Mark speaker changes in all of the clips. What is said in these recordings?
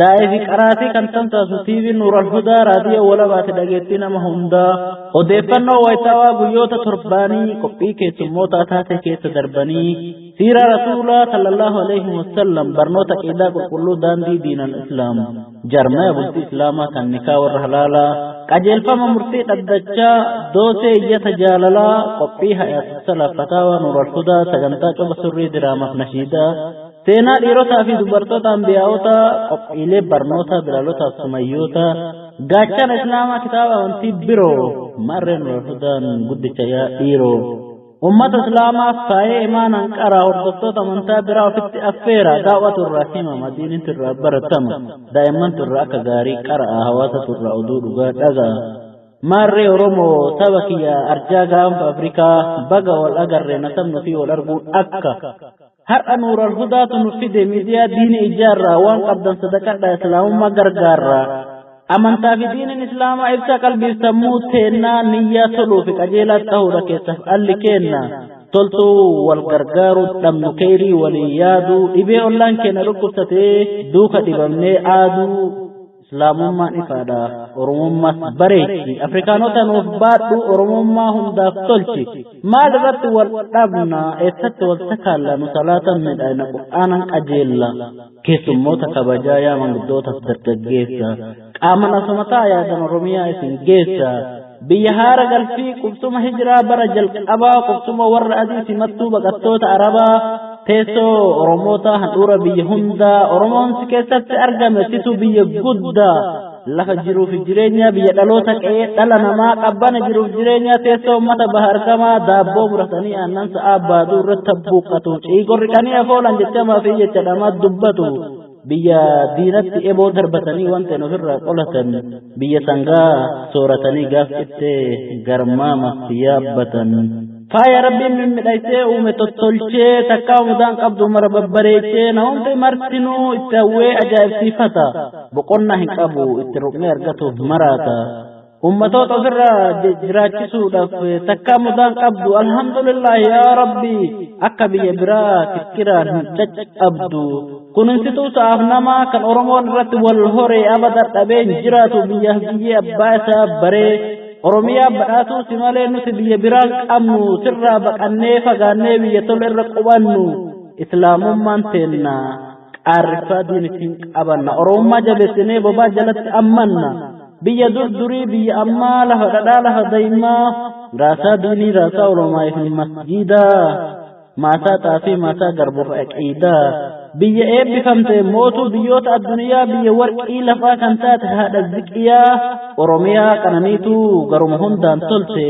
Speaker 1: Daa'ifi qaraatii kan tamsaasu TV Nuur Alhudaa raadiyoo walabaati dhageettii nama hundaa. Odeeffannoo wayitaawaa guyyoota torbaanii qophii keessummootaa taatee keessa darbanii siira rasuulaa sallallahu alaihi wasallam barnoota qiidaa qulqulluu daandii diinan islaam jarmaya bultii islaamaa kan nikaa warra halaalaa qajeelfama murtii dhaddachaa doosee iyyata jaalalaa qophii hayaatu salaf fataawaa Nuur Alhudaa sagantaa coba surrii diraamaaf nashiidaa Seenaa dhiirotaa fi dubartoota ambiyaa'ota qophiilee barnootaa bilaalootaaf sumayyoota gaachana islaamaa kitaaba amantii biroo marreen walhudaan guddicha yaa dhiiroo ummata islaamaaf taa'ee imaanaan qaraa hordoftoota amantaa biraa ofitti affeera daawwatu irraa hima madiinitti irraa baratama daa'immantu irraa akka gaarii qara'a hawaasatu irraa oduu dhugaa dhaga'a maarree oromoo saba kiyya arjaa gaanfa afrikaa baga wal agarree nasabnu fi wal arguun akka har'a nuural hudaatu nu fide miidiyaa diini ijaarraa waan qabdan sadaqadha islaamummaa gargaarraa amantaa fi diiniin islaamaa ibsa qalbiif sammuu teennaa niyyaa toluu fi qajeelaa ta'uudha keessaaf alli keenna toltuu wal gargaaruu dhabnu keeyrii walii yaaduu dhibee ollaan keenya dhukkubsatee duuka dhibamnee aaduu Islaamummaan ifaadha. Oromummaas bareechi. Afrikaanota nuuf baadhu Oromummaa hundaaf tolchi. Maal irratti wal dhabna eessatti wal sakaalla nu salaatan midhaina qur'aanan qajeella. Keessummoota kabajaa yaa manguddootaaf dargaggeessa. Qaaman asuma ta'a yaadan Oromiyaa isin geessa. biyya haara galfii qubsuma hijiraa bara jalqabaa qubsuma warra adii simattuu baqattoota arabaa teessoo oromoota handhuura biyya hundaa oromoon si keessatti argame situ biyya guddaa lafa jiruuf jireenya biyya dhaloota qe'ee dhala namaa qabbana jiruuf jireenya teessoo ummata baha argamaa daabboo muratanii aannan sa'aa baaduu irratti buuqqatu ciigorri qanii afoolan jechamaa fi jecha dhamaa dubbatu biyya diinatti eboo darbatanii wanta hin ofirraa qolatan biyya sangaa sooratanii gaaf cittee garmaama yaabbatan. faaya rabbiin mimmidhaysee uume tottolchee takkaa mudaan qabdu mara babbareechee na hundi martinuu itti hawwee ajaa'ibsiifata boqonnaa hin qabu itti ruqnee argatuuf maraata. ummatoota ofirra jiraachisuudhaaf takkaa mudaan qabdu alhamdulillah yaa rabbi akka biyya biraa kikkiraan hin caccabdu kuninsituu sa'aaf namaa kan oromoon irratti wal horee abada dhabeen jiraatu biyyaaf biyyee abbaa isaa baree oromiyaa badhaatuu si malee nuti biyya biraan qabnu sirraa baqannee fagaannee biyya tola irra qubannu islaamummaan teennaa qaarrisaa diin ittiin qabanna oromummaa jabeessinee bobaa jalatti ammanna biyya dur durii biyya ammaa lafa dhadhaa lafa daa'imaa raasaa diinii raasaa oromaa fi masjiidaa maasaa xaafii maasaa garbuuf aqiidaa biyya eebbifamte mootuu biyyoota addunyaa biyya warqii lafaa kan taate haadha ziqiyaa oromiyaa qananiitu garuma hundaan tolte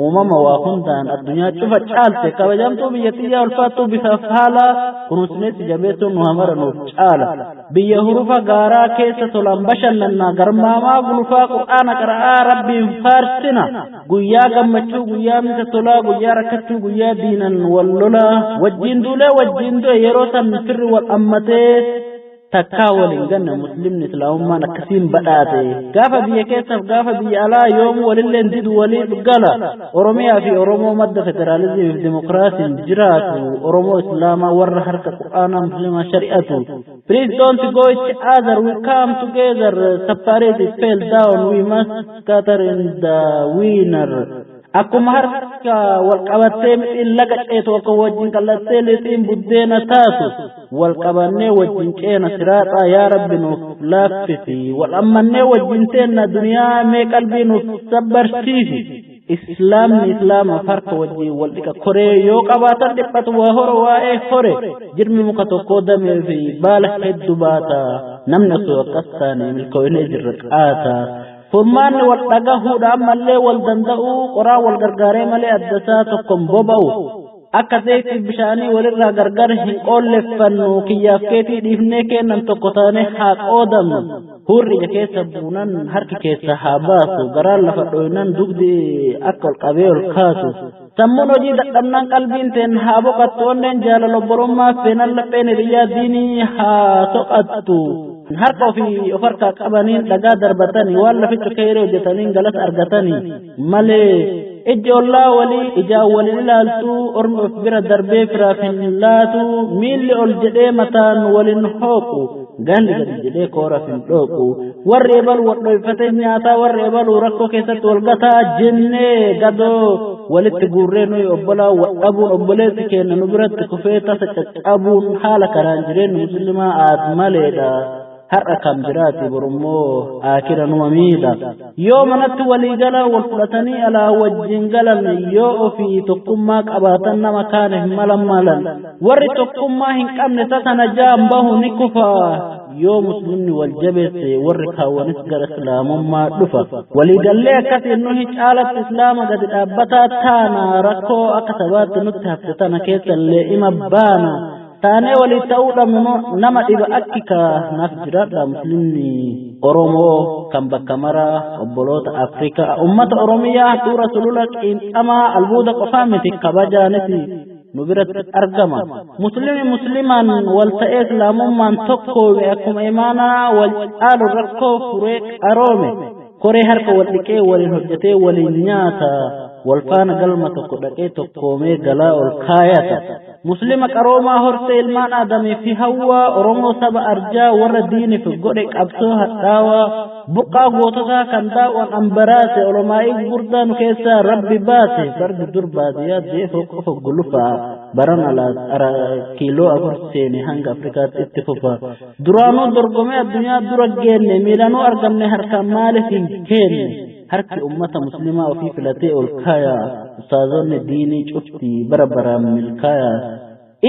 Speaker 1: uumama waa hundaan addunyaa cufa caalte kabajamtuu biyya tiyyaa ulfaattuu bifaaf haala kunuunsineessi jabeessuun nu hamara nuuf caala biyya hurufa gaaraa keessa tolaan bashannannaa garmaamaa gulufaa qur'aana qara'aa rabbiin faarsina guyyaa gammachuu guyyaa misa tolaa guyyaa rakkachuu guyyaa diinan wal lolaa wajjiin duulee wajjiin du'e yeroo san firri wal ammatee takkaa wal hin ganne muslimni islaamummaan akkasiin badhaate gaafa biyya keessaaf gaafa biyya alaa yoom walilleen didu waliif gala oromiyaa fi oromoo madda federaalizimiif dimokiraasiin jiraatu oromoo islaamaa warra harka qur'aanaa muslimaa shari'atu please don't go each other we come together separate it fell down we must scatter in the winner Akkuma harka wal qabattee mixiin laga ceetu akka wajjin qallattee lixiin buddeena taatu wal qabannee wajjin ceena siraaxaa yaa rabbi nuuf laaffisi wal ammannee wajjin teenna duniyaa mee qalbii nuuf sabbarsiisi islaamni islaamaaf harka wajjin wal dhiqa koree yoo qabaatan dhiphatu waa horo waa'ee hore jirmi muka tokkoo damee fi baala heddu baata namni osoo akkas taane milkoo'inee jirra qaata Furmaanni wal dhagahuudha ammallee wal danda'uu qoraa wal gargaaree malee addasaa tokkon boba'u. Akka zaytii bishaanii walirraa gargar hin qoolleffannu kiyyaaf keetii dhiifnee kennan tokko taanee haa qoodamnu. Hurri ija keessa buunan harki keessa haa baasu garaan lafa dhooynan dugdi akka ol qabee ol kaasu. Sammuun hojii dadhabnaan qalbiin teen haa boqattu onneen jaalala obbolummaa seenan lapheen hiriyyaa diinii haa soqattu. Harka ofii of harkaa qabaniin dhagaa darbatanii waan laficha keeree hojjetaniin galas argatanii malee ijji ollaa walii ijaan walin ilaaltu ormi of bira darbee firaaf hin laatu miilli ol jedhee mataan walin hooqu. Ganni gadi jedhee kooras hin dhooqu. Warri ebalu wadhoyfatee nyaataa warri ebalu rakkoo keessatti wal gataa jennee gadoo walitti guurree nuyi obbolaa wadhabuun obboleessi keenya nu biratti kufee tasa caccabuun haala kanaan jireenyi muslimaa aad maleedha. Har'a kam jiraati borummoo akira numa miidha. yoo manatti walii galaa wal fudhatanii alaa wajjin galan yoo ofii tokkummaa qabaatan nama kaane hin malan maalan warri tokkummaa hin qabne tatana jaan bahu ni kufa yoo muslimni wal jabeesse warri kaawwanis gara islaamummaa dhufa waliigallee akkasiin nuhi caalatti islaama gadi dhaabbataa taana rakkoo akka sabaatti nutti hafte tana keessallee ima baana taanee waliin ta'uu dhabnu immoo nama dhiba akki kaanaaf jiraadha muslimni oromoo kan bakka maraa obboloota afrikaa ummata oromiyaa suura sulula qiinxamaa albuuda qofaa miti kabajaaniti nu biratti argama muslimi muslimaan wal ta'ee islaamummaan tokkoome akkuma imaanaa wal caalu rakkoo furee qaroome koree harka wal dhiqee waliin hojjetee waliin nyaata wal faana galma tokko dhaqee tokkoomee galaa ol kaayata Muslima qaroomaa hortee ilmaan Aadamii fi Hawwaa Oromoo saba arjaa warra diiniif godhe qabsoo hadhaawaa buqqaa goototaa kan daawwan ambaraase olomaa'ii gurdaa nu keessaa rabbi baase fardi dur baadiyyaa deefoo qofa gulufaa baran alaas ara kiiloo afur seene hanga Afrikaatti itti fufa duraanuu dorgomee addunyaa dura geenne miilanuu argamne harkaan maaliif hin keenne. harki ummata muslimaa ofii filatee ol kaaya ustaazonni diinii cufti bara baraan milkaaya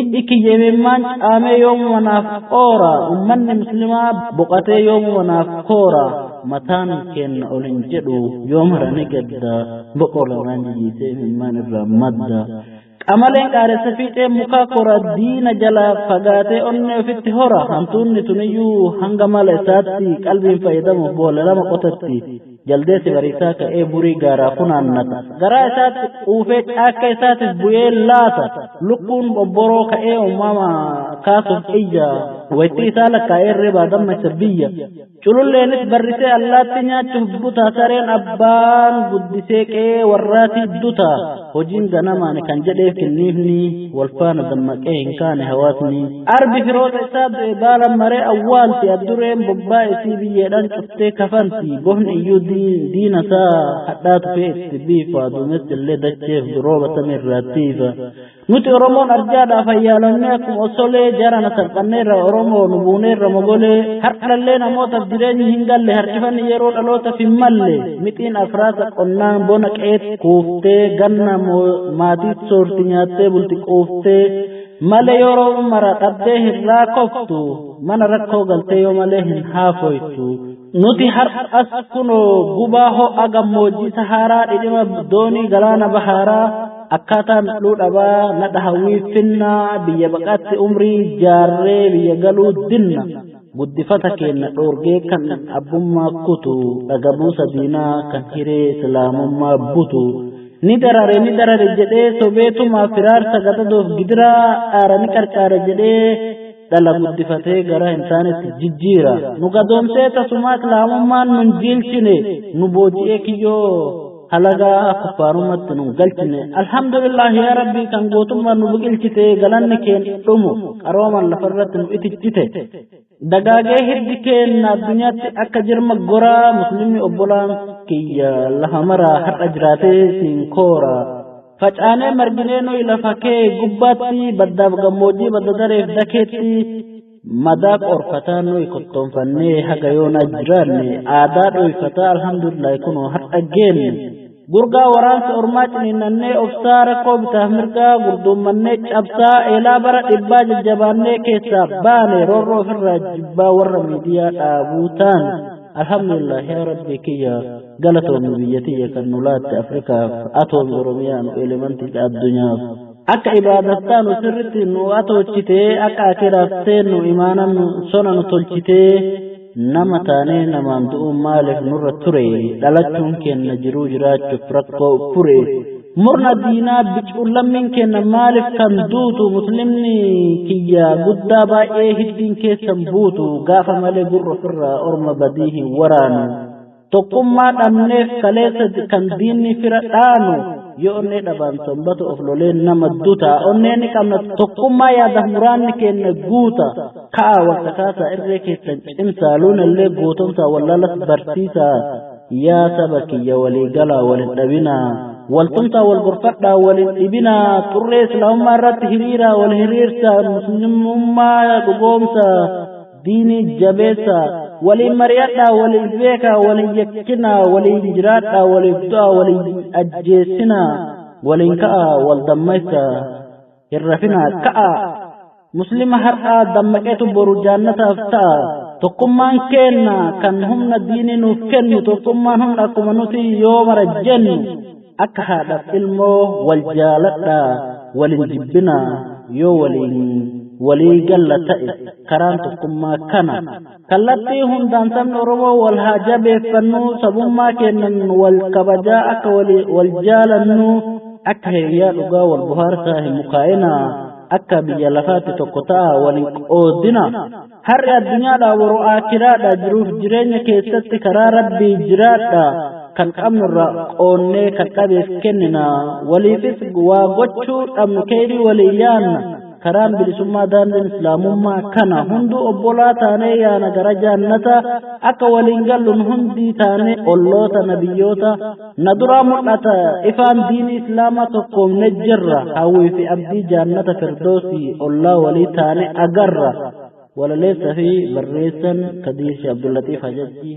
Speaker 1: ijji kiyya imimmaan caamee yoomuma naaf qoora ummanni muslimaa boqatee yoomuma naaf koora mataan keenna ol hin jedhu yoomara ni gadda boqola waan jijiisee imimmaan irraa madda Qamaleen qaaressa fiixee mukaa kora diina jalaa fagaatee onnee ofitti hora hantuunni tuniyyuu hanga mala isaatti qalbiin fayyadamuuf boolla lama qotatti jaldeessi bariisaa ka'ee burii gaaraa funaannata garaa isaatti uufee caakka isaatiif bu'ee laata lukkuun bobboroo ka'ee uumama kaasuuf iyya waytii isaa lakkaa'ee irree baadamma isa biyya cululleenis barrisee allaatti nyaachuuf buta sareen abbaan guddisee qe'ee warraatii duta hojiin ganamaani kan jedheef kinniifni walfaana dammaqee hin kaane hawaasni arbi firoota isaa du'e baala maree awwaalti addureen bobbaa isii biyyeedhaan cuftee kafanti bofni iyyuu diina isaa hadhaa tufee itti biifa duumessi illee dacheef durooba samii irraattiifa Nuti Oromoon arjaadhaaf hayyaalamnee akkuma osolee jarana salphanneerra Oromoo nu buuneerra mogolee har'allee namootaaf jireenyi hin galle harkifanni yeroo dhaloota hin malle mixiin afraasa qonnaan bona qeet kuuftee ganna maatii soorti nyaattee bulti quuftee male yeroo mara dhabdee hin raakoftu mana rakkoo galtee yoo malee hin haafoytu. nuti har'as kunoo gubaa ho'a gammoojjii sahaaraa dhidhima doonii galaana bahaaraa akkaataan dhuu dhabaa nadha hawwii finnaa biyya baqaatti umrii jaarree biyya galuu dinna guddifata keenna dhoorgee kan abbummaa kutu dhagabuusa diinaa kan hiree islaamummaa butu ni darare ni darare jedhee sobeetumaa firaarsa gadadoof gidiraa dhaara ni qarqaara jedhee dhala guddifatee gara hin taanetti jijjiira nu gadoomsee tasumaa islaamummaan nun jiilchine nu booji'ee kiyyoo halagaa kuffaarumatti nun galchine alhamdulillahi yaa rabbii kan gootummaan nu biqilchite galanni keen dhumu qarooman lafarratti nu itichite dagaagee hiddi keenna addunyaatti akka jirma goraa muslimni obbolaan kiyya lafa maraa har'a jiraatee siin koora Facaanee marginee nuyi lafa kee gubbaatti baddaaf gammoojjii badda dareef dakeetti madaa qorfataa nuyi kottoonfannee haga yoonaa jiraanne aadaa dhooyfataa alhamdulillahi kunoo har'a geenne. Gurgaa waraansa ormaa ciniinnannee obsaa rakkoo bitaaf mirgaa gurduummannee cabsaa eelaa bara dhibbaa jajjabaannee keessaa baane roorroo ofirraa jibbaa warra miidiyaa dhaabuu taane. alhamdulillah yaa rabbii kiyya galatoomi biyya tiyya kan nu laatte afrikaaf atoomi oromiyaa nu elemantiidha addunyaaf akka ibaadattaa nu sirritti nu atoochitee akka akiraaf seennu imaana nu sona nu tolchitee nama taanee namaan du'uun maaliif nurra ture dhalachuun keenna jiruu jiraachuuf rakkoo fure murna diinaa bicuun lammiin kenna maaliif kan duutu muslimni kiyya guddaa baay'ee hiddiin keessan buutu gaafa malee gurra ofirraa orma badii hin waraanu tokkummaa dhabneef kaleessa kan diinni fira dhaanu yoo onnee dhabaan tombatu of lolee nama duta onnee ni qabna tokkummaa yaada muraanni kenna guuta ka'a wal kakaasaa irree keessan cimsaa luunallee gootomsaa wallaalas barsiisaa yaa saba kiyya walii galaa wal hin dhabinaa waltumsaa wal gorfadhaa wal hin dhibinaa xurree islaamummaa irratti hiriiraa wal hiriirsaa muslimummaa dhugoomsaa diinii jabeessaa waliin mari'adhaa waliin beekaa waliin yakkinaa waliin jiraadhaa waliif du'aa waliin ajjeessinaa waliin ka'aa wal dammaysaa hin rafinaa ka'aa muslima har'aa dammaqetu boru jaannataaf ta'a tokkummaan keenna kan humna diinii nuuf kennu tokkummaan humna akkuma nuti yoo mara jennu akka haadhaaf ilmoo wal jaaladha waliin jibbina yoo waliin walii galla ta'e karaan tokkummaa kana Kallattii hundaan sabni Oromoo wal haa jabeeffannu sabummaa keennan wal kabajaa akka wal jaalannu akka hiriyaa dhugaa wal bohaarsaa hin mukaa'ina akka biyya lafaatti tokko ta'a wal hin qoodina. Har'i addunyaadhaa waroo aakiraadhaa jiruuf jireenya keessatti karaa rabbii jiraadha. kan qabnu irraa qoonnee kan dhabeef kennina waliifis waa gochuu dhabnu keeyrii walii yaanna karaan bilisummaa daandiin islaamummaa kana hunduu obbolaa taanee yaana gara jaannataa akka waliin galluun hundii taanee olloota nabiyyoota na duraa mul'ata ifaan diinii islaamaa tokkoomne jirra hawwii fi abdii jaannata firdoosii ollaa walii taanee agarra walaleessa fi barreessan kadiir shi abdullatiif hajajjii